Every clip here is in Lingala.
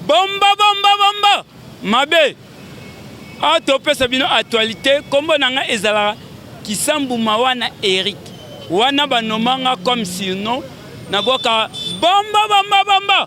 Bomba bomba bomba mabe awa topesa bino actualité nkombo na ngai ezalaka kisambu mawa na eric wana banomanga comme surnom nabwaka bomba bomba bomba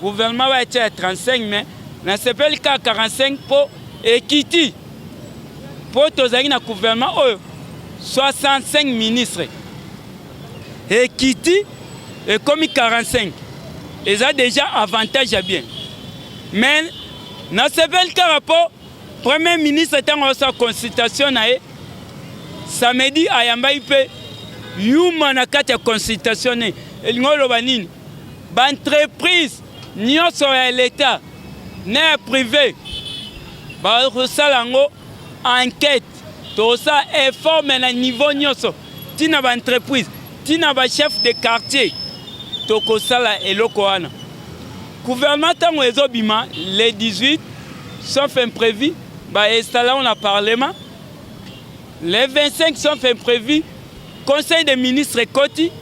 Gouvernement ba etia ya 35 mais na sepeli ka 45 po ekiti po tozali na gouvernement oyo 65 ministres ekiti ekomi 45 eza déjà avantage ya bien mais na sepeli kaka po premier ministre ntango aosa consultation na ye samedi ayambaki mpe yuma na kati ya consultation ne elingi oloba nini ba entreprise nyonso ya leta na ya prive bakosala yango enquête. Tosala effort mais na niveau nyonso, ti na ba entreprise, ti na ba chef de quartier, tokosala eloko wana. Gouvernement ntango ezobima le 18 sauf imprévu ba installa na parlement Le 25 sauf imprévu, conseil des ministres ekoti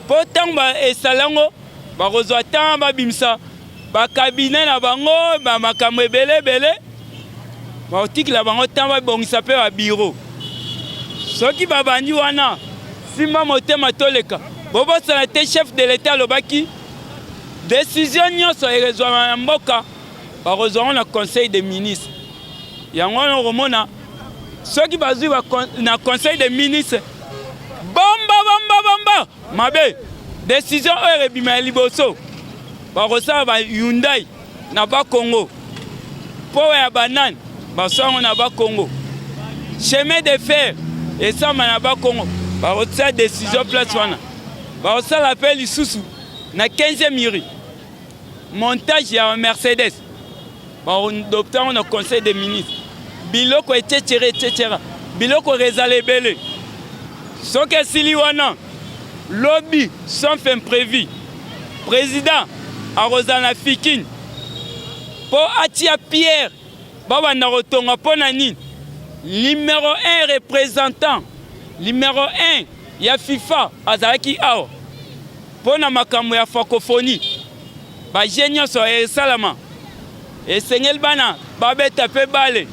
mpo ntango esala yango bakozwa ntango babimisa bakabine na bango ba makambo ebele ebele, bakotikela bango ntango babongisa mpe babiro. Soki babandi wana, simba motema toleka. Bobosana te chef de l'etat alobaki desizio nyonso ekozwama na mboka bakozwa yango na conseil des ministres. Yango wana okomona soki bazwi na conseil de ministre bomba bomba bomba mabe desizio oyo ebima ya liboso bakosala ba hyundai na bakongo powa ya banane baswango na bakongo chemin de fer esamba na bakongo bakotia desizio place wana bakosala mpe lisusu na 15 miri montage ya mercedes baadopta yango na conseil des ministres biloko ececere ececera biloko ezala ebele soki esili wana lobi sauf imprévu président akozala na fikine mpo atia pierre babanda kotonga mpo na nini numero 1 représentant numero 1 ya fifa azalaki awa mpo na makambo ya francophonie baje nyonso esalama esengeli bana babeta mpe bale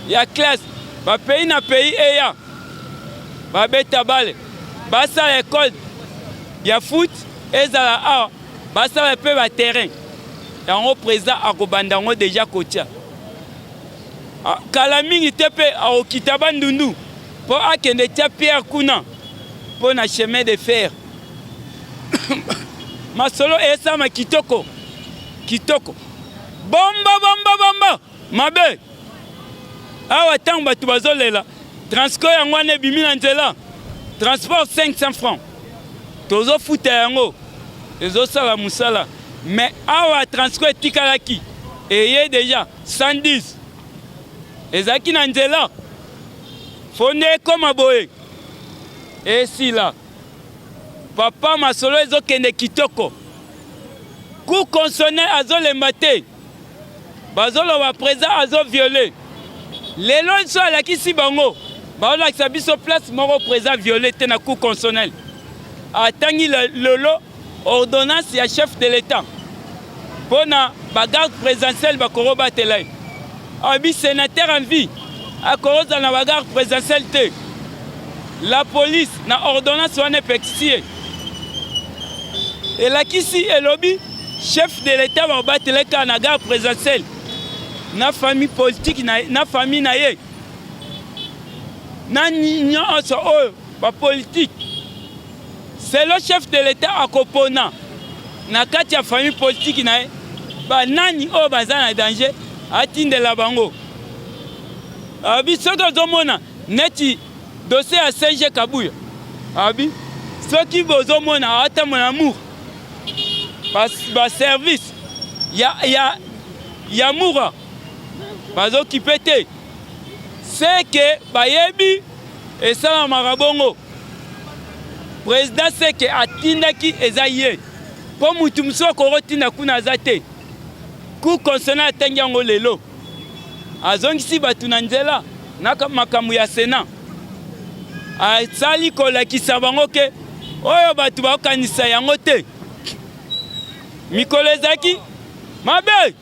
ya classe bapei na pei eya babeta bale basala ekole ya foot ezala awa basala mpe ba terrain yango président akobanda yango deja kotia ah, kala mingi te mpe akokita bandundu mpo akende tia pierre kuna mpo na chemin de fer masolo esalama kitoko kitoko bomba bomba bomba mabe awa ntango bato bazolela transco yango wana ebimi na nzela transport 500 francs tozofuta yango ezosala mosala me awa transco etikalaki eye deja 110 ezalaki na nzela fo nde ekoma boye esila papa masolo ezokende kitoko ku consonne azolemba te bazoloba president azo viole lelo nso alakisi bango baolakisa biso place moko president viole te na cour constitutionnel atangi lelo ordonnance ya chef de l'etat mpo na bagarde présidentielle bakorobatela ye Abi senateur en vie akoza na bagarre présidentielle te. La police na ordonnance wana epekisi ye elakisi elobi chef de l'etat bakobatele kaka na garde présidentielle na famille politique na, na famille na ye na nyonso oyo bapolitike Selon chef de l'Etat akopona na kati ya famille politique na ye banani oyo baza na danger atindela bango. Abi soki ozomona neti dossier ya CG Kabuya abi soki bozomona ata mon amour ba service ya ya ya mura bazokipe te seke bayebi esalamaka bongo president seke atindaki eza ye mpo mutu mosusu akokotinda kuna aza te cour constitutionnel atangi yango lelo azongisi bato na nzela na makambo ya sena asali kolakisa bango ke oyo bato bakokanisa yango te mikolo ezalaki mabe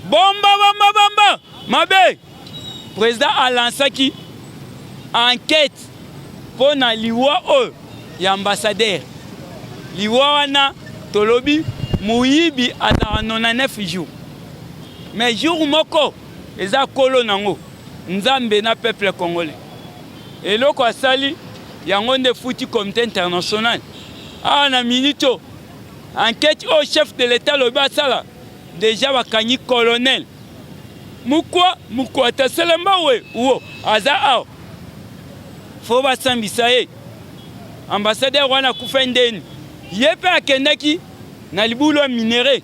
bomba bomba bomba mabe President a lansaki enquête mpo na liwa oyo ya ambassadeur. Liwa wana tolobi moyibi azalaka 99 jours, mais jour moko eza kolo nango Nzambe na peuple congolais. Eloko asali yango nde futi comité international awa na minute oyo enquête oyo chef de l'etat alobi asala deja bakangi colonel mukwa mukwata selamba we wo aza awa fo basambisa ye ambassadeur wana akufa ndeni ye mpe akendaki na libulu ya minere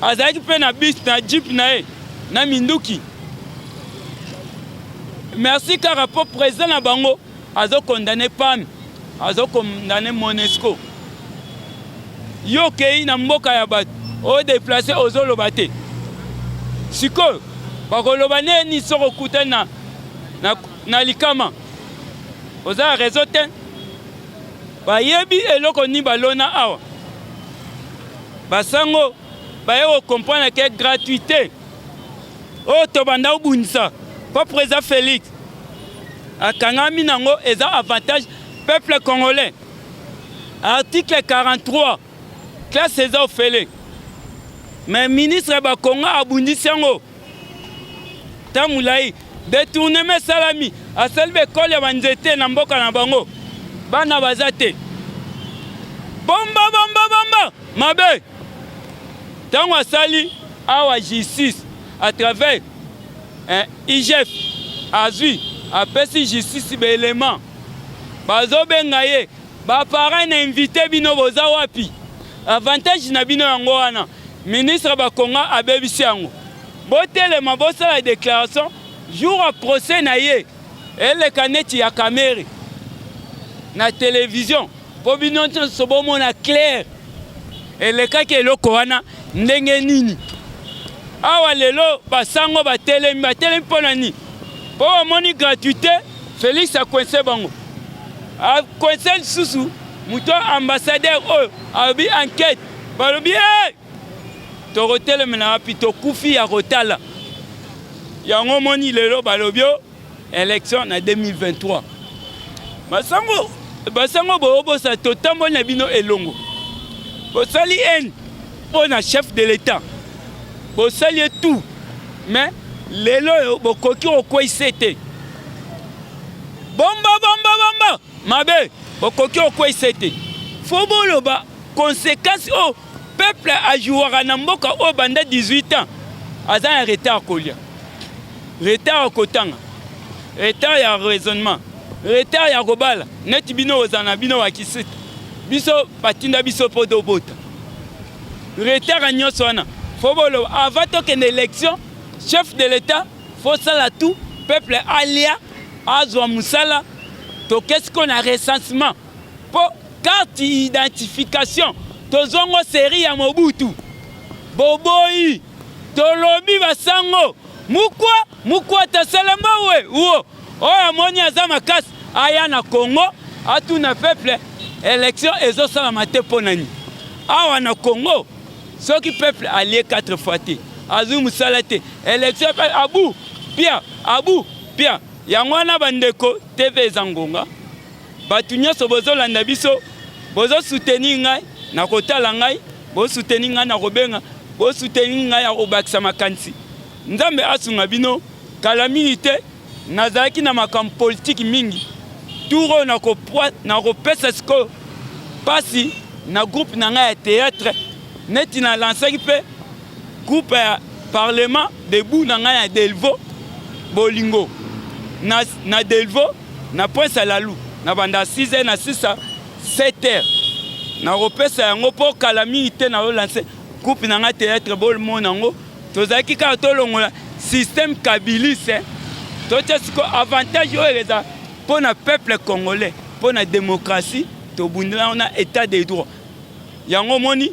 azalaki mpe na bus na jeep na ye na minduki merci kaka mpo president na bango azo condamne PAM, azo condamne Monesco. Yo kei na mboka ya bato o deplace ozoloba te, sikoyo bakoloba neni soki okutani na, na, na likama? Oza ya rezo te, bayebi eloko nini balona awa basango baye ko comprendre ke gratuité oyo tobanda kobundisa mpo président Félix akangami nango eza avantage peuple congolais article 43 classe eza ofele mais ministre bakongo abundisi yango ta molai detournement esalami asali bekole ya banzete na mboka na bango bana baza te bomba bomba bomba mabe ntango asali awa justice à travers eh, igf azwi apesi justice baelema bazobenga ye baparent na invite bino boza wapi avantage na bino yango wana ministre bakonga abebisi yango botelema bosala déclaration jour ya procès na ye eleka neti ya kamere na televizio Mpo bino nyonso bomona claire elekaki eloko wana ndenge nini? Awa lelo basango batelemi, batelemi mpo na nini? Mpo bamoni gratuite, Felix akoinse bango, akoinse lisusu moto ambassadeur oyo alobi enquete, balobi hey! tokotelemela wapi? Tokufi ya kotala yango. Moni lelo balobi Election na 2023. Masango basango bobosa totamboli na bino elongo. Bosali haine mpo na chef de l'État. Bosali ye tout. Mais lelo oyo bokoki kokweisa ye te. Bomba bomba bomba mabe bokoki kokweisa ye te. Fo boloba conséquence oyo oh, Peuple a jouaka na mboka oyo banda 18 ans aza na retard kolia, retard ya kotanga, retard ya raisonnement, retard ya kobala. Neti bino ozala na bino bakisita, biso batinda biso mpo tobota. Retard ya nyonso wana fo boloba avant tokende election, chef de l'etat fosala tout peuple alia azwa mosala tokesi ko na recensement Po carte identification tozongo serie ya Mobutu boboyi tolobi basango mukwa mukwa tasalamba we uo oyo amoni aza makasi aya na Congo atuna peuple election ezosalama te mpo nani awa na Congo soki peuple alie 4 fois te azwi mosala te election pe abu pia abu pia yango wana bandeko tv eza ngonga Batu nyoso bozo landa biso, bozo soutenir ngai na kotala ngai, bozo soutenir ngai na kobenga, bozo soutenir ngai ya kobakisa makanisi. Nzambe asunga bino, kala mingi te nazalaki na makambo politique mingi. Tour oyo na kopesa sikoyo pasi na groupe na ngai ya theatre neti na lansaki pe Groupe ya parlement debout na ngai ya Delvaux bolingo na, na Delvaux na Prince Alalu na banda 6 heures na sisa 7 heures nakopesa yango mpo kala mingi te na olanse groupe na ngai théâtre bolmona yango tozalaki kaka tolongola système kabiliste eh. totya siko avantage oyo eza mpo na peuple congolais mpo na démocratie tobundela yango na état de droit yango omoni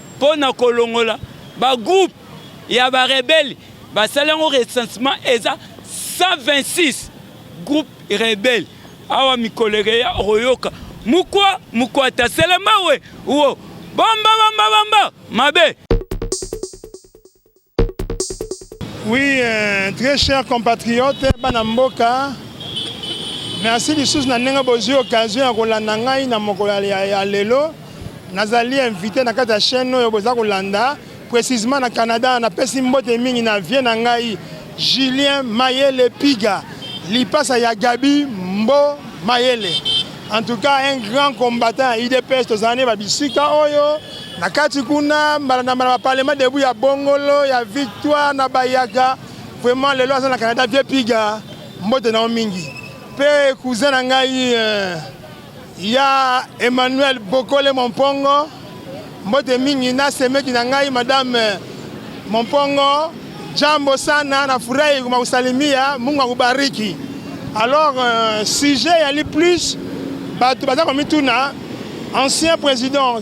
mpo na kolongola ba groupe ya ba rebelle basali yango recensement eza 126 groupe rebelle awa mikolo ekeya okoyoka mukwa mukwata selemawe wo bamba bamba bamba mabe Oui, euh, très cher compatriote, bana mboka, merci lisusu na ndenge bozwi occasion ya kolanda ngai na mokolo ya lelo. Nazali invité na kati ya chaîne oyo boza kolanda, précisément na Canada. Napesi mbote mingi na vie na ngai Julien Mayele Piga, lipasa ya Gabi Mbo Mayele. En tout cas, un grand combattant ya IDPS tozalani ba bisika oyo Na kati kuna mbala na mbala ba parlement debout ya Bongolo ya Victoire na Bayaga vraiment lelo aza na Canada vieux Piga mbote na yo mingi mpe cousin na ngai euh, ya Emmanuel Bokole Mompongo mbote mingi na semeki na ngai madame euh, Mompongo jambo sana na furahi kumakusalimia Mungu akubariki alors euh, sujet yali plus bato baza komituna ancien président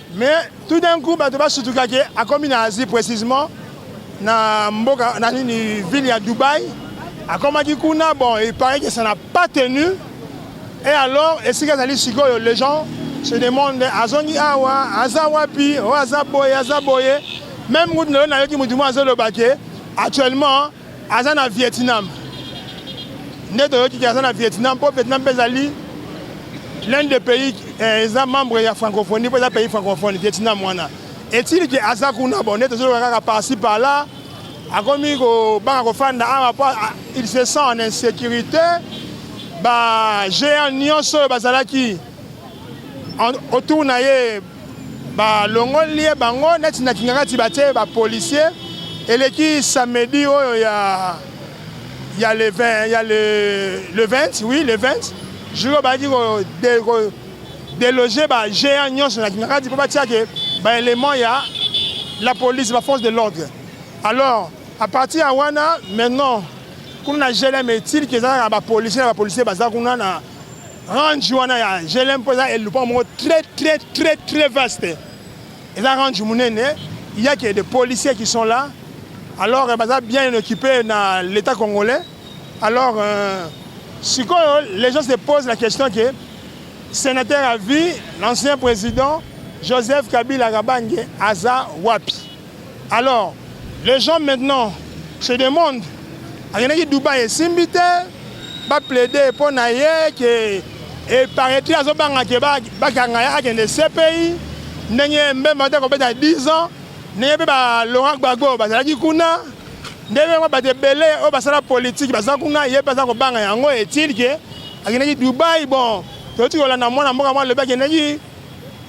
Mais tout d'un coup bato basutuka ke akomi na Asie précisément na mboka na nini ville ya Dubaï akomaki kuna bon il paraît que ça n'a pas tenu et alors esika ezali sikoyo les gens se demandent azongi awa aza wapi oyo oh, aza boye aza boye même kutu nayo nayoki motu moko azoloba ke actuellement Aza na Vietnam. Nde toyoki aza na Vietnam mpo Vietnam mpe ezali l'un des pays eh, eza membre ya francophonie mpo eza pays francophone Vietnam wana. Etili ke aza kuna bon nde tozoloka kaka parci par là akomi kobanga kofanda awa mpo il se sent en insécurité ba géant nyonso oyo bazalaki autour na ye balongoli ye bango neti na kingakati batie ba policier eleki samedi oyo ya ya le 20 ya le, le 20 oui le 20 jour bazalaki kodeloge ba géant nyonso na kingakati mpo batiake baélément ya la police ba force de l'ordre alors à partir ya wana maintenant kuna na glm etilki ezalaka bapolicier na bapolicier baza kuna na range wana ya GLM mpo eza elupa moko très très très très vaste eza range monene il y a que des policiers qui sont là alors baza bien occupé na l'état congolais alors euh, sikoyo les gens se posent la question que sénateur à vie l'ancien président joseph kabila kabange aza wapi Alors les gens maintenant se demandent akendaki Dubaï esimbi te ba plaider mpo na ye ke eparetre azobanga ke bakanga ye akende CPI ndenge Mbemba te akobeta 10 ans ndenge mpe ba Laurent Gbagbo bazalaki kuna ndenge yango bato ebele oyo basala politiki baza kuna ye mpe aza kobanga yango etilke akendaki Dubaï bon toyoti kolanda mwana mboka mwa alobi akendaki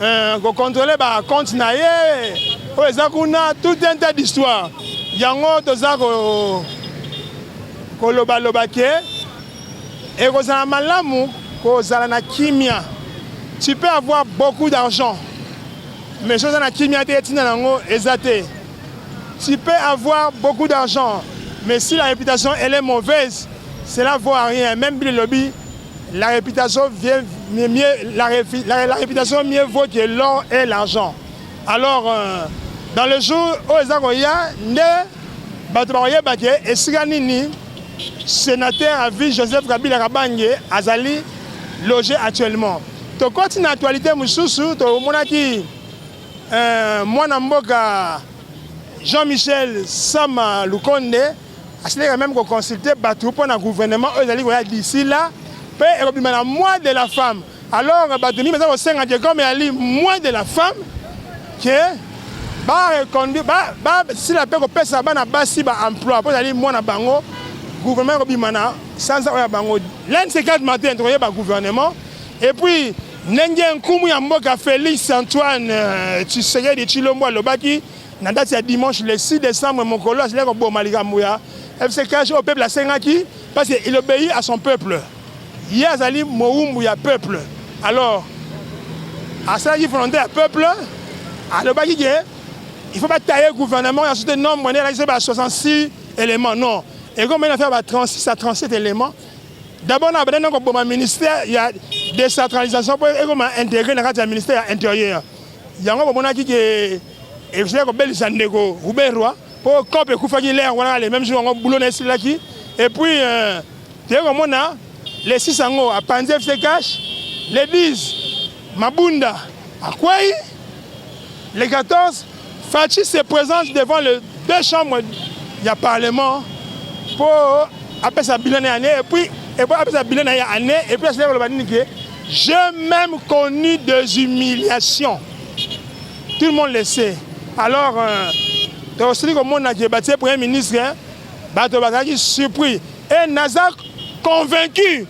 euh, kocontrole bacompte na ye oyo eza kuna tout un tas d'histoire yango toza kolobaloba ke ekozala malamu kozala na kimia tu peux avoir beaucoup d'argent mais soki oza na kimia te etinda na yango eza te tu peux avoir beaucoup d'argent mais si la réputation elle est mauvaise cela vaut à rien même bilelobi La réputation, vient mieux, la, la, la réputation mieux vaut que l'or et l'argent. Alors, euh, dans le jour oyo eza koya nde bato bakoyeba ke esika nini sénateur à vie Joseph Kabila Kabange azali logé actuellement. Tokoti na actualité mosusu tomonaki euh, mwana mboka Jean-Michel Sama Lukonde Asileka meme ko consulter bato mpo na gouvernement oyo ezali koya d'ici là mpe ekobima na mois de la femme. Alors bato mingi baza kosenga ke comme eyali mois de la femme ke bareconduire basila mpe kopesa bana basi ba emploi mpo ezali mwana bango gouvernement ekobima na sanza oyo ya bango l'un de ces quatre matin tokoyeba gouvernement et puis ndenge nkumu ya mboka Félix Antoine euh, Tshisekedi Tshilombo alobaki Na date ya dimanche le 6 décembre, Mokolo azali koboma likambo ya FC Cash oyo peuple asengaki parce que il obéit à son peuple. Ye azali mowumbu ya peuple. Alors asalaki volonté ya peuple, alobaki ke il faut bataye gouvernement ya sote nombre nde alakisa ba 66 éléments non ekomei na faire ba 36 à 37 éléments d'abord na banda na koboma ministère ya décentralisation mpo ekoma intégré na kati ya ministère ya intérieur Yango bomonaki ke ezali kobelisa ndeko Ruberwa mpo cope ekufaki lere wana le meme jour yango bulo na esilaki et puis euh, toyei komona le 6 yango apanzi fc cash le 10 mabunda akwei le 14 Fatshi se présente devant les deux chambres ya parlement mpo apesa bilan na année et puis et puis apesa bilan na ya année et puis asila koloba nini ke j'ai même connu des humiliations tout le monde le sait alors euh, tosili komona ke batie premier ministre bato bazalaki surpris et naza convaincu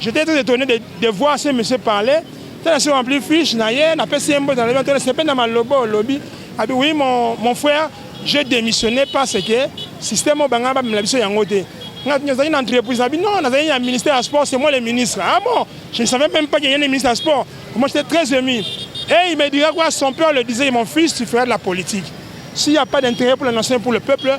J'étais très étonné de, de voir ce monsieur parler. Tala sur rempli fiche na ye, na pesi mbo na leba tala sepe na malobo lobi. Abi oui mon mon frère, j'ai démissionné parce que système banga ba mela biso yango te. Nga tinyo zali na entreprise na bino, na zali na ministère ya sport, c'est moi le ministre. Ah bon, je ne savais même pas qu'il y a un ministre ya sport. Moi j'étais très ému. Et il me dira quoi, son père le disait, mon fils, tu feras de la politique. S'il n'y a pas d'intérêt pour la nation et pour le peuple,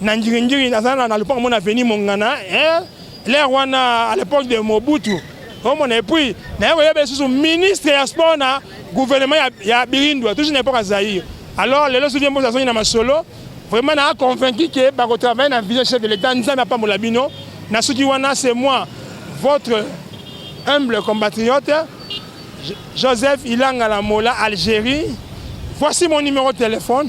na ngiringiri naza na lopango mona avenue mongana eh, l'air wana à l'époque de mobutu omona epuis naye koyeba lisusu ministre ya sport na gouvernement ya, ya birindwa toujours na epoque ya zaire alors lelo soki mbozi azongi na masolo vraiment naa convaincu ke bakotravaille na vision chef de l'état nzambe apambola bino na soki wana c'est moi votre humble compatriote joseph ilanga la mola algérie voici mon numéro de téléphone